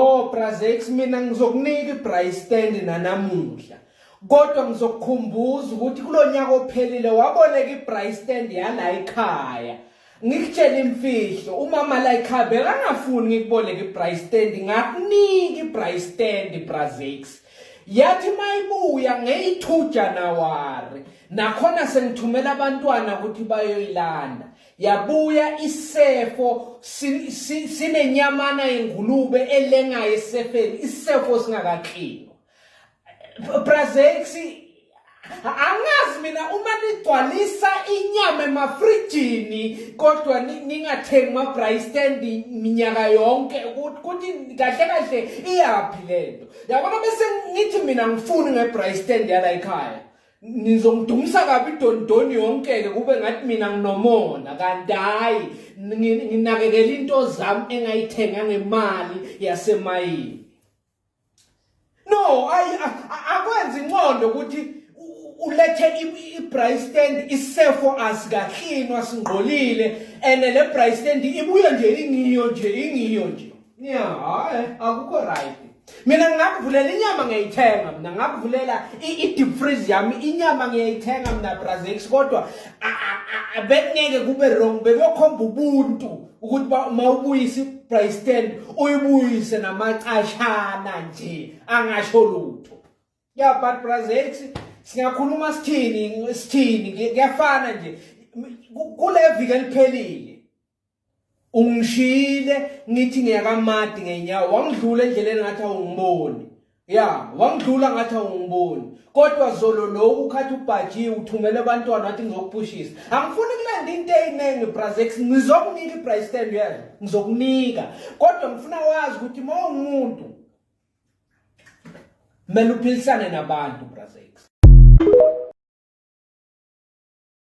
Oh Brazex mina ngizokunika ibrace stand nanamuhla. Kodwa ngizokukhumbuza ukuthi kulonyaka ophelile waboleka ibrace stand yala ekhaya. Ngikutshela imfihlo umama la ekhaya bekangafuni ngikuboleka ibrace stand ngakunika ibrace stand Brazex. Yathi mayibuya ngeyithuja nawari. Nakhona sengithumela abantwana ukuthi bayoyilanda. yabuya isefo sinenyamana yengulube elengayo esefeni isefo singakaklinwa brazexi angazi mina uma nigcwalisa inyama emafrijini kodwa ningathengi ma-bry stand minyaka yonke kuthi kahle kahle iyaphi le nto yabona bese ngithi mina ngifuni nge-bry stand yala ekhaya nizongidumisa kabi idondoni yonke-ke kube ngathi mina nginomona kanti hhayi nginakekela into zami engayithenga ngemali yasemayini no akwenzi inqondo ukuthi ulethe i-braai stand isefo asikahlinwa singqolile and le braai stand ibuye nje ingiyo nje ingiyo nje Yeah, hayi akukho right. Mina ngingakuvulela inyama ngiyayithenga mina ngakuvulela i-deep freeze yami inyama ngiyayithenga mina Brazil kodwa bekungeke kube wrong bebeyokhomba ubuntu ukuthi ba uma ubuyisa i-price stand uyibuyise namacashana nje angasho lutho. Yeah, but Brazil singakhuluma sithini sithini kuyafana nje kule viki eliphelile ungishiyile ngithi ngiyakamadi ngenyawo wangidlula endleleni ngathi awungiboni ya wangidlula ngathi awungiboni kodwa zolo loku ukhathi ubhajiwe uthumele abantwana wathi ngizokuphushisa angifuni kulanda into eyiningi brazex ngizokunika ibrice stand yazi ngizokunika kodwa ngifuna wazi ukuthi uma ungumuntu kumele uphilisane nabantu brazex